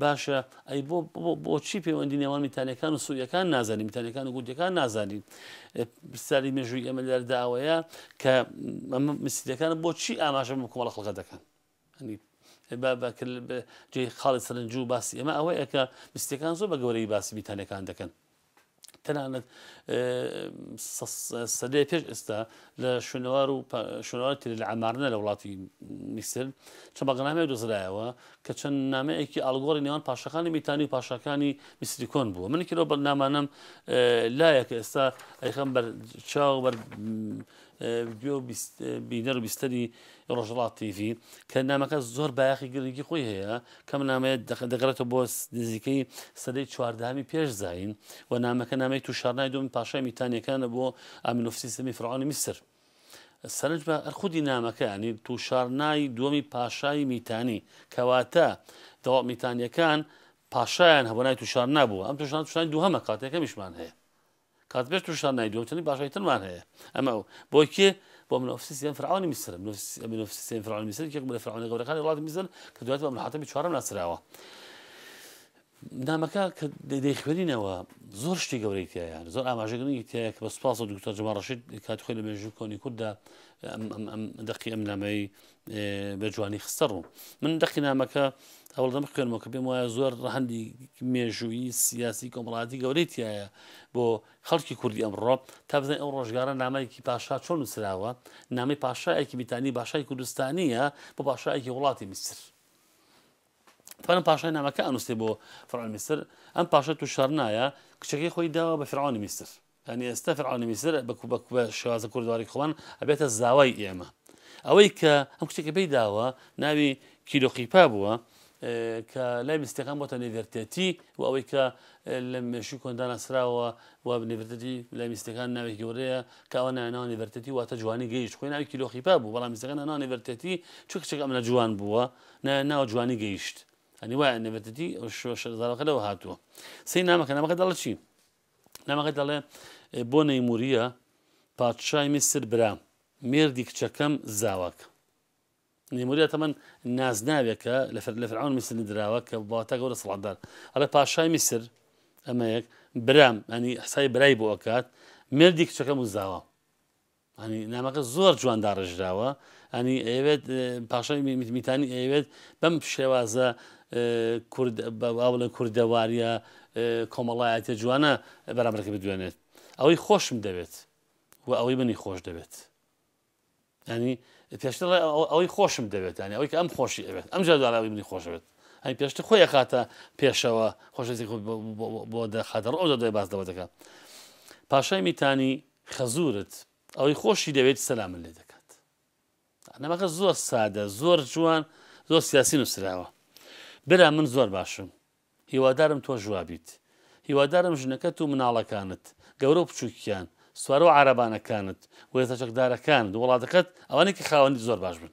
باشە ئەی بۆ بۆچی پەیوەندی نێوان میتانیەکان و سووریەکان نازانین میتانیەکان و گوردەکان نازانین پرسیاری مێژووی ئێمە لەردا ئەوەیە کە ئەمە مسیلەکان بۆچی ئاماژە بە کۆمەڵە خەڵکە دەکەن جێ خاڵی سەرنجو باسی ئەمە ئەوەیە کە مسیەکان زۆر بە گەورەی باسی میتانەکان دەکەن تەنانەت سەدەی پێش ئێستا لە شوێنەوار و شوێنەوار تری لە ئەمارنە لە وڵاتی میسر چە بەغنامەیە دۆزرایەوە کە چەند نامەیەکی ئالگۆری نێوان پاشەکانی میتانی و پاشەکانی میسریکۆن بووە منێکی لەو بەرنامانم لایەکە ئێستا ئەیخم بەر چاو بەر ڤیدیۆ و بینەر و بیستەری ڕۆژهەڵات تیڤی کە نامەکە زۆر بایەخی گرنگی خۆی هەیە کەم نامەیە دەگەڕێتەوە بۆ نزیکەی سەدەی چواردەهەمی پێش زین و نامەکە نامەی تووشارنای دوم پاشای میتانیەکانە بۆ ئامینۆفسی سەمی فرعۆنی میسر سەرنج بە ئەرخودی نامەکانی تووشارنای دووەمی پاشای میتانی کەواتە دەوڵەت میتانیەکان پاشایان هەبوونای تووشار نابووە ئەم تووشان تووشانی دووهەمە کاتێکەمیشمان هەیە کات پێش ترشتان نای دووەم چەندی پاشای ترمان هەیە ئەمە ئەو بۆ کێ بۆ من ئۆفسی سێم فرعونی میسر من ئۆفسی سێم فرعونی میسر یەکێک بوو لە فرعونە گەورەکانی وڵاتی میسر کە دواتر بە منحاتەمی چوارەم ناسراوە نامەکە کە دەیخوێنینەوە زۆر شتی گەورەی تایە زۆر ئاماژەگرنگی تایە کە بە سپاس و دکتۆر جماڕشید کات خۆی لە مێژوو کۆنی کورددا دەقی ئەم نامەی بە جوانی خستە ڕوو من دەقی نامەکە هەوڵدەم خوێنمەوە کە پێم وایە زۆر ڕەهندی مێژووی سیاسی کۆمەڵاتی گەورەی تایە بۆ خەڵکی کوردی ئەمڕۆ تا بزانین ئەو ڕۆژگارە نامایکی پاشا چۆن نووسراوە نامی پاشایەکی بیتانی باشای کوردستانیە بۆ پاشایەکی وڵاتی میسر پەرم پاشای نامەکە ئەنووسێ بۆ فڕان میسر ئەم پاشە تو شارنایە کچەکەی خۆی داوە بە فرعاانی میسر یانی ئێستا فیرعەونی میسر بە کوبە کوبە شێوازە کوردەواری خۆمان ئەبێتە زاوای ئێمە ئەوەی کە ئەم کچێکە پێی داوە ناوی کیلۆقیپا بووە کە لای مستەکان بۆتە نێڤێرتێتی و ئەوەی کە لە مێشوی کۆنداناسراوە و نێڤێرتێتی لای میستەکان ناوی گەورەیە کەەوە ناوی نێڤێرتێتی واتە جوانی گەیشت خۆی ناوی کیلۆخیپا بوو بەڵام میستەکان ناو نێڤێرتێتی چ کچێک ئەمە جوان بووە ناو جوانی گەیشت ئەنی وایە نێڤێرتێتی شۆشەزارەکە لەوە هاتووە سی نامەکە نامەکە دەڵچی نامەکە دەڵێ بۆ نەیموریە پادشای میسر برام مێردی کچەکەم زاواکە نموریا تەمەەن نازناوێکە لە لە فرعون میسر دراوە کە باتە گەورە سڵاتدار ئەڵە پاشای میسر ئەمەیەک برام ئەنی حسای برای بۆ ئەکات مردی کچەکەم و زاوە یانی نامەکە زۆر جوان داڕێژراوە یانی ئەیەوێت پاشای میتانی ئەیەوێت بەم شێوازە کورد باڵێن کوردەواریە کۆمەڵایەتە جوانە بەرامبەرەکە بدوێنێت ئەوەی خۆشم دەوێت و ئەوەی منی خۆش دەوێت ینی پێشتر ئەوەی خۆشم دەوێت ینی ئەوەی کە ئەم خۆشی ئەوێت ئەم جاداراوی منی خۆشەوێت ئەی پێشتر خۆی خاتە پێشەوە خۆشەزی بۆ دەخاتە ڕۆ دەدای باس لەوە دەکە پاشای میتانی خەزورت ئەوەی خۆشی دەوێت سەلامت لێ دەکات نەمەکە زۆر سادە زۆر جوان زۆر سیاسی نووسراوە برا من زۆر باشم هیوادارم تۆ جوابیت هیوادارم ژنەکەت و مناڵەکانت گەورە و بچووکیان سوارە و عربانەکانت وێزە چەکدارەکان وڵاتەکەت ئەوانێکی خاوەنی زۆر باش بن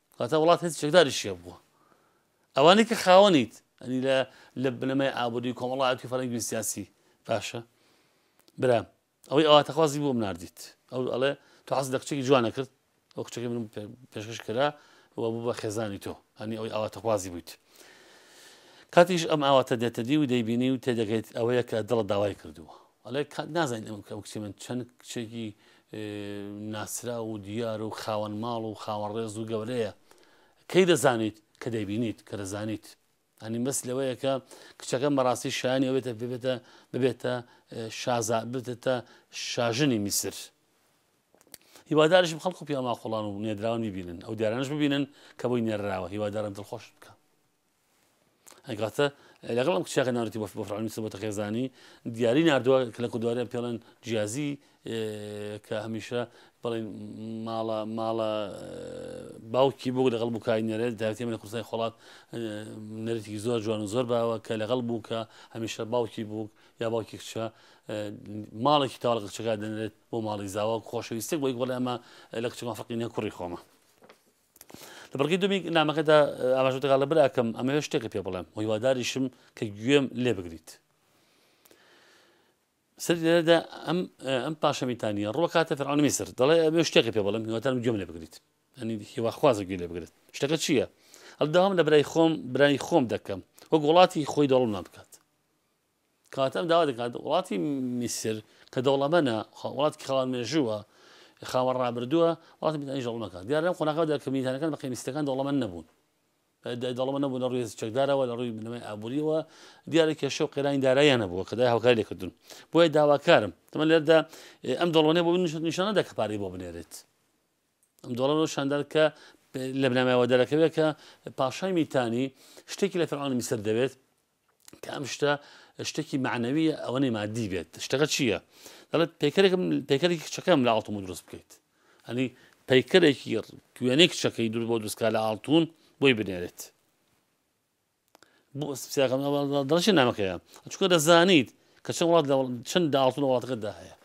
واتە وڵات هێزی چەکداری شێ بووە ئەوانەی کە خاوەنیت ئەنی لە لە بنەمای ئابووری کۆمەڵایەتی فەرەنگی سیاسی باشە برام ئەوەی ئەواتەخوازی بۆم نردیت ئەو ئەڵێ تو حەز لە کچێکی جوانە کرد ئەو کچەکە من پێشکەش کرا و بوو بە خێزانی تۆ هەنی ئەوی ئاواتەخوازی بوویت کاتیش ئەم ئاواتە دێتە دی و دەیبینی و تێدەگەیت ئەوەیە کە دڵە داوای کردووە ئەڵێ کات نازانین ئەم کە کچی من چەند کچێکی ناسراو و دیار و خاوەن ماڵ و خاوەن ڕێز و گەورەیە کەی دەزانیت کە دەیبینیت کە دەزانیت ئەنی بەس لەوەیە کە کچەکە مەڕاستی شایانی ئەوێتە ببێتە ببێتە شازا بێتە شاژنی میسر هیوادارشم خەڵک و پیاماقلان و نێدراون ببینن ئەو دیارانش ببینن کە بۆی نێراوە هیوادارن دڵخۆش بکە ئەی کاتە لەگەڵ ئەم کچاکە ناردی بۆ فڕانی سبەتە خێزانی دیاری نردووە کە لە کوردواریان پێڵێن جیازی کە هەمیشە بڵێن ماڵە ماڵە باوکی بوو لەگەڵ بووکای نەرێت داوتێ لە کورسای خۆڵات نەرێتێکی زۆر جوان و زۆر باوە کە لەگەڵ بوو کە هەمیشە باوکی بوو یا باوکی کچە ماڵێکی تاڵ کچەکە دەنرێت بۆ ماڵی زاوە خۆشەویستێک بۆی بڵێ ئەمە لە کچەکان فقینە کوڕی خۆمە لە بڕگەی دووەمی نامەکەدا ئاماژەت دەکات لە براکەم ئەمەوێت شتێکت پێ بڵێم و هیواداریشم کە گوێم لێ بگریت سەر لێرەدا ئەم ئەم پاشەمیتانە ڕوەکاتە فەرعون میسر دەڵێ ئەمێ شتێکی پێ بڵم هیواتان گوێم لێ بگریت ئەنی هیواخوازە گوێ لێ بگرێت شتەکە چییە؟ ئەلداوام لە برای خۆم برای خۆم دەکەم وەک وڵاتی خۆی دەوڵمان بکات کاتەم داوا دەکات وڵاتی میسر کە دەوڵەمەنە وڵاتی خاوەن مێژووە خاوەن ڕابردووە وڵاتی میدانی دەوڵەمەکان دیار لەم قۆناغەدا کە میدانەکان بە قەیمیستەکان دەوڵەمەن نەبوون دەڵمە نەبوو لە ڕووی چەکدارەوە لە ڕووی بنەمای ئابووریەوە دیارە کێشە و قێرانی داراییانە بووە کە دای هاوکاری لێکردون بۆیە داواکارم تەمە لێردا ئەم دەڵۆنێ بۆ نیشانەدا کە پارەی بۆ بنێرێت ئەم دۆڵەن و شاندار کە لە بنامایەوە دەرەکەوێت کە پاشای میتانی شتێکی لە فەرعاانی میسر دەوێت کە ئەم شتە شتێکی معنەویە ئەوەنەی مادی بێت شتەکە چییە دەڵێت پێکەرێکم پێکەرێکی کچەکەم لە ئاڵتم و دروست بکەیت ئەنی پەیکەرێکی گوێنێک چەکەی دوور بۆ دروستکە لە ئاڵتون بۆی بنێرێت دڵشی نامەکەیە چکە دەزانیت کە چەند وڵات چەند داڵتون وڵاتەکەدا هەیە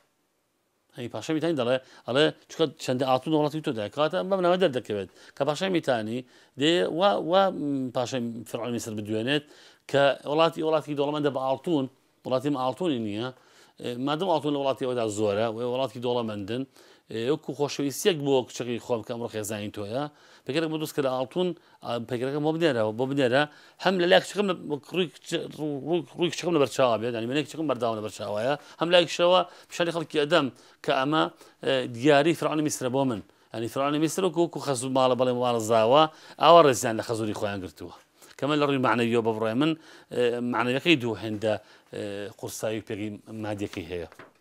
ئەی پاشای میتانی دەڵێ ئەڵێ چکە چەندە ئاتون وڵاتی تۆ داکاتە بەم ناوە دەردەکەوێت کە پاشای میتانی دێ وا وا پاشای فرعۆن میسر بدوێنێت کە وڵاتی وڵاتی دەوڵەمەندە بە ئاڵتون وڵاتی ئاڵتونی نییە مادەم ئاڵتون لە وڵاتی ئەودا زۆرە و وڵاتی دەوڵەمەندن وەکو خۆشەویستیەک بۆ کچەکەی خۆم کە ئەمڕۆ خێزانی تۆیە پێکەرێک بە دروست کە لە ئاڵتون پەیکەرەکەم بۆ بنێرەوە بۆ بنێرە هەم لە لای کچەکەم ڕووی کچەکەم لەبەر چاوا بێت ئەنی منێک کچەکەم بەرداوە لەبەر چاوایە هەم لایکشەوە پیشانی خەڵکی ئەدەم کە ئەمە دیاری فرانی میسرە بۆ من ئەنی فرانی میسر و کوکو خەزوو ماڵە بەڵێ ماڵە زاوە ئاوا ڕێزیان لە خەزوری خۆیان گرتووە کەمە لە ڕووی معنەویۆ بە بڕێ من معنەکەی دوو هێندە قورسایی پێگەی مادەکەی هەیە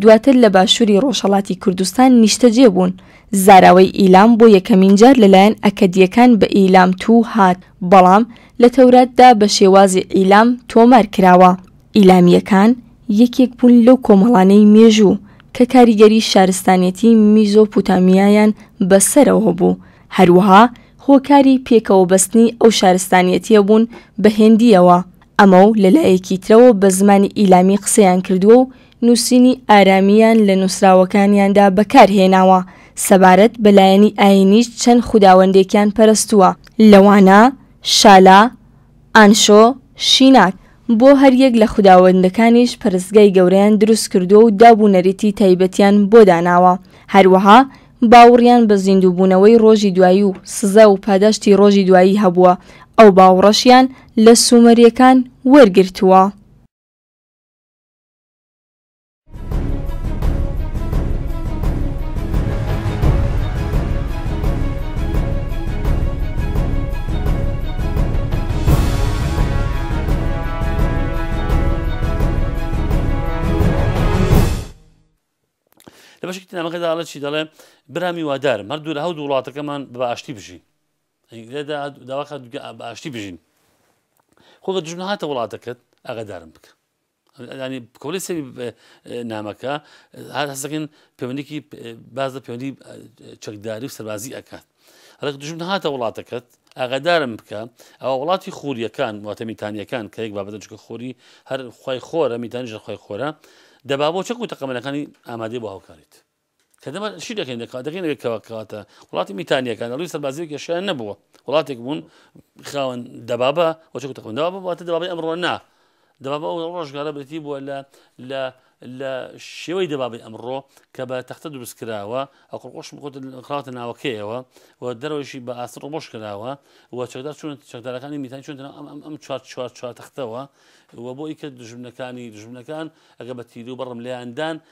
دواتر لە باشووری ڕۆژهەڵاتی کوردستان نیشتەجێ بوون. زاراوەی ئیلام بۆ یەکەمین جار لەلایەن ئەکەدییەکان بە ئیلام توو هات، بەڵام لە تەوراتدا بە شێوازی عیلام تۆمار کراوە. ئیلامییەکان یەکێک بوون لەو کۆمەڵانەی مێژوو کە کاریگەری شارستانیەتی میزۆپوتامیایان بە سەرەوە بوو، هەروەها هۆکاری پێکەوە بەستنی ئەو شارستانیەتیە بوون بە هێندییەوە. ئەمە و لە لایەکی ترەوە بە زمانی ئیلامی قسەیان کردووە و نووسینی ئارامییان لە نووسراوەکانیاندا بەکار هێناوە، سەبارەت بە لایەنی ئایینیش چەند خوداوەندێکیان پەرستووە، لەوانە، شالا، ئانشۆ، شیناک، بۆ هەریەک لە خوداوەندەکانیش پەرستگای گەورەیان دروست کردووە و داب و نەریتی تایبەتیان بۆ داناوە، هەروەها باوڕیان بە زیندووبوونەوەی ڕۆژی دوایی و سزا و پاداشتی ڕۆژی دوایی هەبووە، ئەو باوڕەشیان لە سوومەرییەکان وەرگرتووە. لە بەشێکی نامەکەدا ئەڵە چی دەڵێ برامی وادارم هەر دوور هەو وڵاتەکەمان بە ئاشتی بژین لێدا داواکە بە ئاشتی بژین خۆگە دژمن هاتە وڵاتەکەت ئەگەدارم بکە ینی کۆڵی سەری نامەکە هەستەکەن پەیوەندیکی باز لە پەیوەندی چەکداری و سەربازی ئەکات ڕێک دژمن هاتە وڵاتەکەت ئاگادارم بکە ئەوە وڵاتی خوریەکان واتە میتانیەکان کە یەک بابەتە چکە خۆری هەر خی خۆرە میتانی ژەخوای خۆرە دەبا بۆ چەک و تەقەمەنەکانی ئامادەی بۆ هاوکاریت کە دەمە شی دەکەین دەکات دەکەین لەوێ کەوا کەواتە وڵاتی میتانیەکان ئەڵوی سەربازی کێشیان نەبووە وڵاتێک بوون خاوەن دەبابە وەچەکو تەخوندەوە بواتە دەبابی ئەمڕۆ نا دەبابە ئەو ڕۆژگارە برێتی بووە لە لە لە شێوەی دەبابی ئەمڕۆ کە بە تەختە دروست کراوە ئەو قڕقۆش بخۆت خراوتە ناوەکەیەوە و دەرەوەشی بە ئاست ڕۆبۆش کراوە و چەکدار چون چەکدارەکانی میتان چون ئەم ئەم ئەم چوار چوار چوار تەختەوە و بۆ ئیکە دژمنەکانی دژمنەکان ئەگە بە تیرو بەڕم لێیاندان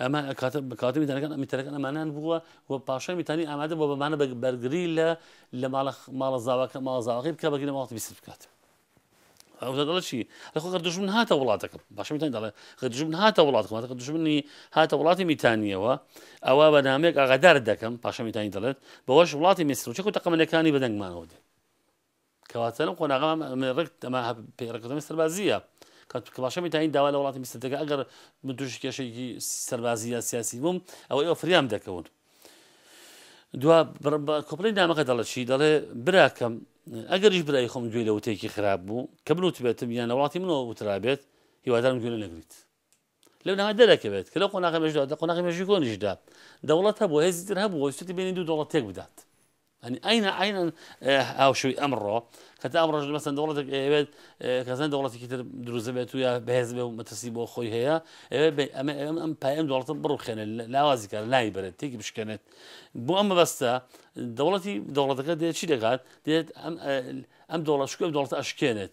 ئەمە کاتە میتەرەکان میتەرەکان ئەمانان بووە و پاشای میتانی ئامادە بۆ بەمانە بەرگری لە لە ماڵە زاواکە ماڵزاواکەی بکە بەگی لە ماڵی بیست بکات. ئەوڵەشی لەخۆ گەر دژمن هاتە وڵاتەکەم باشمیتان دەڵێ گە دژمن هاتە وڵاتەکەم گە دژمنی هاتە وڵاتی میتانیەوە ئەوە بە نامێک ئاغادار دەکەم پاشەمیتانی دەڵێت بەوەش وڵاتی میسرچەکو تەقەمەنەکانی بەدەنگمانەوە دێ کەواتە لەم قۆناغە من ڕێک ئەمە ڕێککەوتنەوەی سەربازییە کە کەماشە میتانی داوا لە وڵاتی میسر دەکە ئەگەر من تووشی کێشێکی سەربازی یا سیاسی بووم ئەوە ئێوە فریام دەکەون دوا کۆپلی نامەکە دەڵە چی دەڵێ براکەم ئەگەریش برای خۆم گوێ لە وتێکی خراپ بوو کە بنوتبێتم یان لە وڵاتی منەوە وترابێت هیوادارم گوێ نەگریت لەو نامە دەرەکەوێت کە لەو قۆناغی مێژوودا لە قۆناغی مێژووی کۆنیشدا دەوڵەت هەبوو هێزی تر هەبوو ویستێتی بینی دوو دەوڵەت تێک بدات ئەنی ئاینە ئاینەن هاوشوی ئەمڕۆ کە تا ئەمڕۆژ مەسەن دەوڵەتێک ئەوێت کەزان دەوڵەتێکی تر دروست بێت و یا بەهێز بێ و مەترسی بۆ خۆی هەیە ئەمە ئەم ئەم پایەم دەوڵەتە بڕوخێنێت لاوازی کار ناوی بەرێت تێکی بشکێنێت بۆ ئەمە بەستە دەوڵەتی دەوڵەتەکە دێت چی دەکات دێت ئەم ئەم دەوڵەشکە دەوڵەت ئەشکێنێت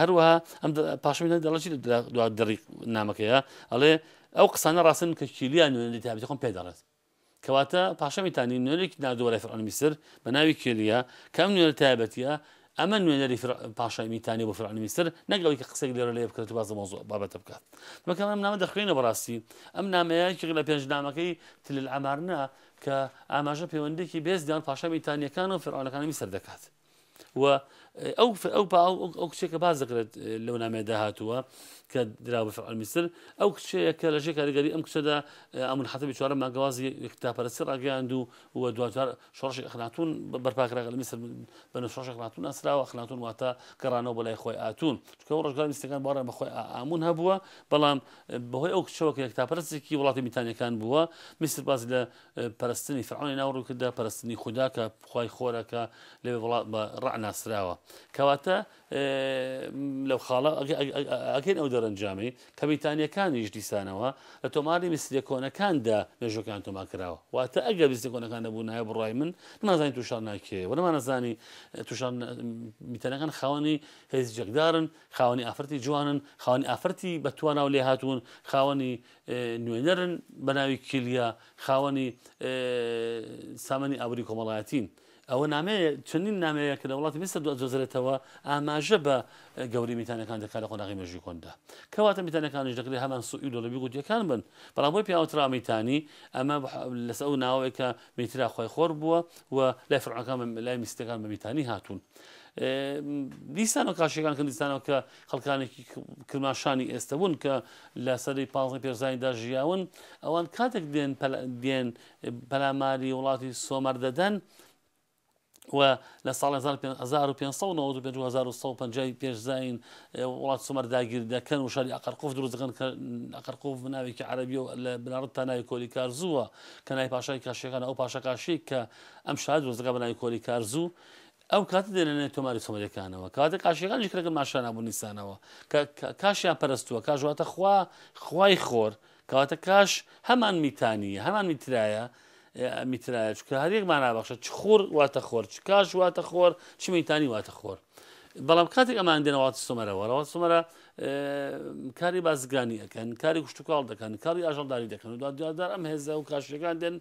هەروەها ئەم پاشمی دەڵەی دوا دڕی نامەکەیە ئەڵێ ئەو قسانە ڕاستن کە کیلیان نوێنەری تابێتی خۆم پێ دەڵێت کەواتە پاشەمیتانی نوێنێک نادۆرە فرعون میسر بە ناوی کێلیە کەم نوێنەر تایبەتە ئەمە نوێنەری پاشای میتانی بۆ فرعون میسر نەگەڵی کە قسێک لێرە لێ بکرێت باز مۆزۆ بابەتە بکات بەکەم ئەم نامە دەخوێنە بەڕاستی ئەم نامەیەکی لە پێنج نامەکەی تل ئەمارنا کە ئاماژە پەیوەندێکی بێزدان پاشا میتانیەکان و فرعونەکانی میسر دەکات و ئەو ئەو باو ئەو کچێکە باز دەکرێت لەو نامێدا هاتووە کە درا بە فعل میسر ئەو کچەیە کە لەژێ کاریگەری ئەم کچەدا ئەمون حەتەبی چوارە ماگەوازی یەکتاپەرسی ڕاگەیاند و و دوچار شۆڕشی ئەخناتون بەرپاکراگە لە میسر بە شۆڕشی خناتون ئەسراوە خناتون واتە گەڕانەوە بەلای خۆی ئاتون چکە ڕژگار میستەکان باڕێن بەخۆی ئامون هەبووە بەڵام بەهۆی ئەو کچەوە کە یەکتاپەرستێکی وڵاتی میتانەکان بووە میسر باز لە پەرستنی فەرعۆنی ناو ڕووکردە پەرستنی خودا کە خی خۆرەکە لە وڵات بە ڕع ناسراوە کەواتە لەو خاڵە ئەگەن ئەو دەرەنجامی کە بەیتانیەکانیش دیسانەوە لە تۆماری میسرە کۆنەکاندا مێژەکان تۆما کراوە واتە ئەگە بیستی کۆنەکان نەبوو نایە بڕای من نمازانی تووشان ناکێ و نەمانەزانی تووشان میتەنەکان خاوەنی هێزی جەکدارن خاوەنی ئافرەتی جوانن خاوەنی ئافرەتی بەتواناو لێ هاتوون خاوەنی نوێنەرن بە ناوی کیلیا خاوەنی سامانی ئابوری کۆمەڵایەتین. ئەوە نامەیە چەندین نامەیە کە لە وڵاتی میسر دۆزرێتەوە ئاماژە بە گەوری میتانەکان دەکات لە قۆناغی مێژووی کۆندا کەواتە میتانەکانش دەکرێت هەمان سوئی لۆلەبی گوتیەکان بن بەڵام بۆی پیاوترا میتانی ئەمە لەس ئەو ناوەیە کە میترا خۆی خۆر بووە و لای فرعەکان لای میستەکان بە میتانی هاتوون دیسان و کاشەکان کردستانەوە کە خەڵکانێکی کرماشانی ئێستە بوون کە لە سەدەی پازدەی پێرزاییندا ژیاون، ئەوان کاتێک دێن دێن پەلاماری وڵاتی سۆمەر دەدەن، و لە ساڵ 1595 پێش زین وڵات سومەر داگیر دەکەن و شاری ئەقرقف دروست دەکەن کە ئەقرقف ناوێکی عربی و لە بناڕت تا ناوی کۆلی کارزووە کە نای پاشای کاشەکان ئەو پاشە کاشی کە ئەم شار دروست دەکە بە ناوی کۆلی کارزوو ئەو کاتە دێنە نێو تۆماری سەمەریەکانەوە کەواتە کاشیەکانیش کرەکە ماشانا بوو نیسانەوە کە کاشیان پەرستووە کاژواتە خوا خوای خۆر کەواتە کاش هەمان میتانیە هەمان میترایە میترایە چکە هەریەک مانابەخشە چ خۆر واتە خۆر چ کاش واتە خۆر چ میتانی واتە خۆر بەڵام کاتێک ئەمان دێنەوەات سومەرەوە ڕەوە سومەرە کاری بازرگانی ئەکەن کاری کوشتتوکاڵ دەکەن کاری ئاژەڵداری دەکەن و دادار ئەم هێزە و کاشەکان دێن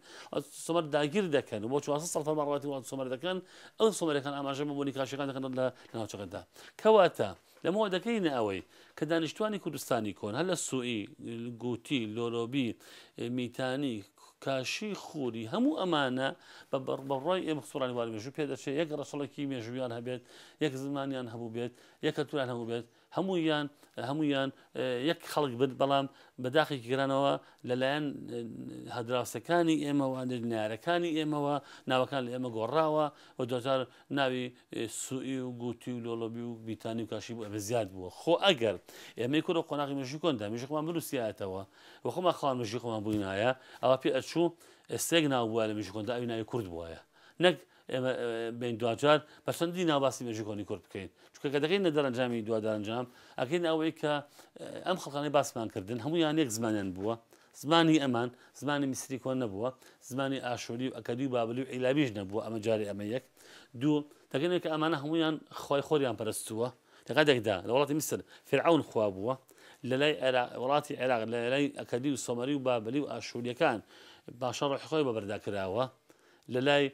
سمەر داگیر دەکەن بۆ چوار ساڵ فەرماڕاتی وڵات سمەر دەکەن ئەو سمەرەکان ئاماژە بە بۆنی کاشەکان دەکەن لە ناوچەکەدا کەواتە لەمەوە دەکەینە ئەوەی کە دانیشتوانی کوردستانی کۆن هەر لە سوئی گوتی لۆرۆبی میتانی کاشی خوری هەموو ئەمانە بە بەڕبڕای ئێمە سوڕانی وار مێژوو پێدەچێت یەک ڕەچڵێکی مێژویان هەبێت یەک زمانیان هەبوو بێت یەکەتوان هەموو بێت هەموویان هەموویان یەک خەڵک بن بەڵام بەداخێکی گرانەوە لەلایەن هەدراوسەکانی ئێمەوە نێژنارەکانی ئێمەوە ناوەکان لە ئێمە گۆڕاوە و دۆجار ناوی سوئی و گوتی و لۆڵۆبی و بیتانی و کاشی بوو ئەمە زیاد بووە خۆ ئەگەر ئێمەی کورە قۆناغی مژی کۆندا مژی خۆمان بنووسیاتەوە و خۆمان خۆمان مژی خۆمان بووینایە ئەوە پێ ئەچوو ئەستێک ناو بووە لە مژی کۆندا ئەوی ناوی کورد بواە نەک ئێمە بێین دواجار بە چەندی ناو باسی مێژووی کۆنی کورد بکەین چونکە کە دەکەینە دەرەنجامی دوا دەرەنجام ئەکەین ئەوەی کە ئەم خەڵکانەی باسمان کردن هەمویان یەک زمانیان بووە زمانی ئەمان زمانی میسری کۆن نەبووە زمانی ئاشووری و ئەکەدی و بابلی و عیلابیش نەبووە ئەمە جارێ ئەمە یەک دوو دەگەنێک کە ئەمانە هەمویان خۆی خۆریان پەرستووە لە کاتێکدا لە وڵاتی میسر فرعون خوا بووە لە لای وڵاتی عێراق لە لای ئەکەدی و سۆمەری و بابلی و ئاشووریەکان باشە ڕۆحی خۆی بەبەردا کراوە لەلای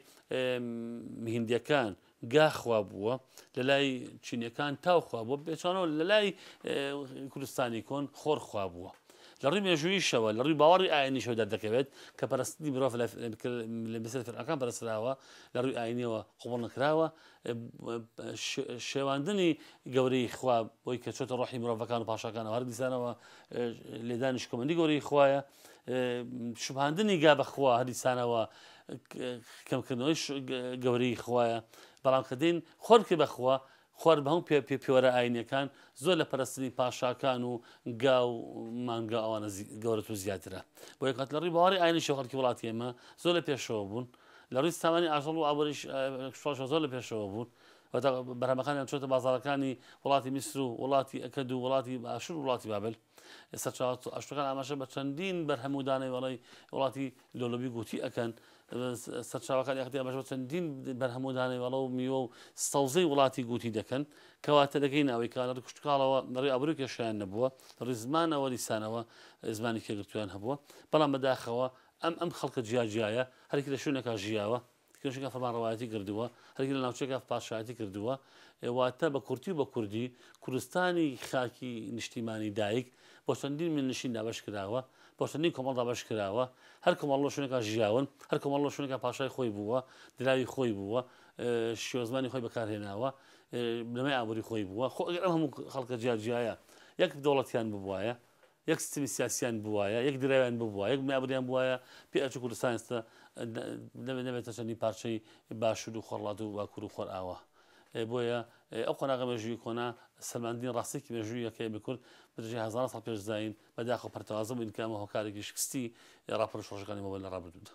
هیندیەکان گا خوا بووە لەلای چینەکان تاو خوا بووە بێچانەوە لەلای کوردستانی کۆن خۆر خوا بووە لە ڕووی مێژوویشەوە لە ڕووی باوەڕی ئاینیشەوە دەردەکەوێت کە پەرستنی مرۆڤ لە بسر فرعەکان پەرسراوە لە ڕووی ئاینیەوە قوبڵ نەکراوە شێواندنی گەورەی خوا بۆی کە چۆتە ڕۆحی مرۆڤەکان و پاشەکانەوە هەر دیسانەوە لێدانی شکۆمەندی گەورەی خوایە شوبهاندنی گا بە خوا هەرئیسانەوە کەمکردنەوەی گەورەی خوایە بەڵام کە دین خۆرکی بەخوا خۆر بە هەم پێ پێ پێوەرە ئاینەکان زۆر لە پەرستنی پاشاکان و گا و مانگا ئەوانە گەورەت و زیاترە بۆ یکات لە ڕی باوەڕی ئاینی شەخەرکی وڵاتی ئێمە زۆر لە پێشەوە بوون لە ڕووی سامانی ئاژەڵ و ئابووریش زۆر لە پێشەوە بوون بەرهەمەکانیان چۆتە بازارەکانی وڵاتی میسر و وڵاتی ئەکەد و وڵاتی باشور وڵاتی بابل ئێستا چوار سەد و ئەشت و کان ئاماژە بە چەندین بەرهەم و دانەوێڵەی وڵاتی لۆلۆبی گوتی ئەکەن. سەرچاوەکانی یەکێتی ئاماژە بە چەندین بەرهەم و دانەوێڵە و میوە و سەوزەی وڵاتی گوتی دەکەن، کەواتە دەگەینە ئەوەی کە لەڕووی کشتوکاڵەوە لەڕووی ئابووری کێشەیان نەبووە، لەڕووی زمانەوە لیسانەوە زمانی کێ گرتوویان هەبووە، بەڵام بەداخەوە ئەم ئەم خەڵکە جیاجیایە، هەرکی لە شوێنێکا ژیاوە، کێشەکە فەرمانڕەوایەتی کردووە، هەرگیز لە ناوچەیەکا پادشایەتی کردووە. واتە بە کورتی و بە کوردی، کوردستانی خاکی نیشتیمانی دایک، بۆ چەندین میرنشین دابەش کراوە، بۆ چەندین کۆمەڵ دابەش کراوە. هەر کۆمەڵ لەو شوێنەکا ژیاون، هەر کۆمەڵ لەو شوێنەکا پاشای خۆی بووە، دراوی خۆی بووە، شێوەزمانی خۆی بەکار هێناوە، بنەمای ئابووری خۆی بووە. خۆ ئەگەر ئەم هەموو خەڵکە جیاجیایە یەک دەوڵەتیان ببوایە، یەک سیستمی سیاسیان بووایە، یەک دراویان ببووایە، یەک مابریان بووایە، پێ ئەچوو کوردستان ئێستا نەبێتە چەندین پارچەی باشوور و خۆرهەڵات و باکوور و خۆرئاوا. بۆیە ئەو قۆناغە مێژوویی کۆنە سەلماندنی ڕاستییەکی مێژووییە کە ئێمەی کورد بە درێژای هەزاران ساڵ پێش زایین بە داخ و پەرتەوازە بووین کە ئەمە هۆکارێکی شکستی ڕاپەڕین و شۆڕشەکانی مەوبەر لە ڕابردوودا.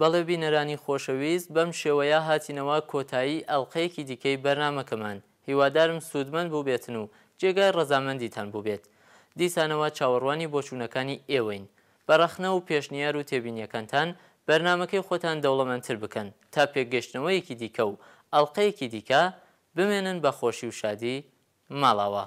بەڵێ بینەرانی خۆشەویست بەم شێوەیە هاتینەوە کۆتایی ئەڵقەیەکی دیکەی بەرنامەکەمان هیوادارم سوودمەند بووبێتن و جێگای ڕەزامەندیتان بووبێت دیسانەوە چاوەڕوانی بۆچوونەکانی ئێوەین بە ڕەخنە و پێشنیار و تێبینیەکانتان بەرنامەکەی خۆتان دەوڵەمەندتر بکەن تا پێکگەشتنەوەیەکی دیکە و ئەڵقەیەکی دیکە بمێنن بە خۆشی و شادی ماڵاوا.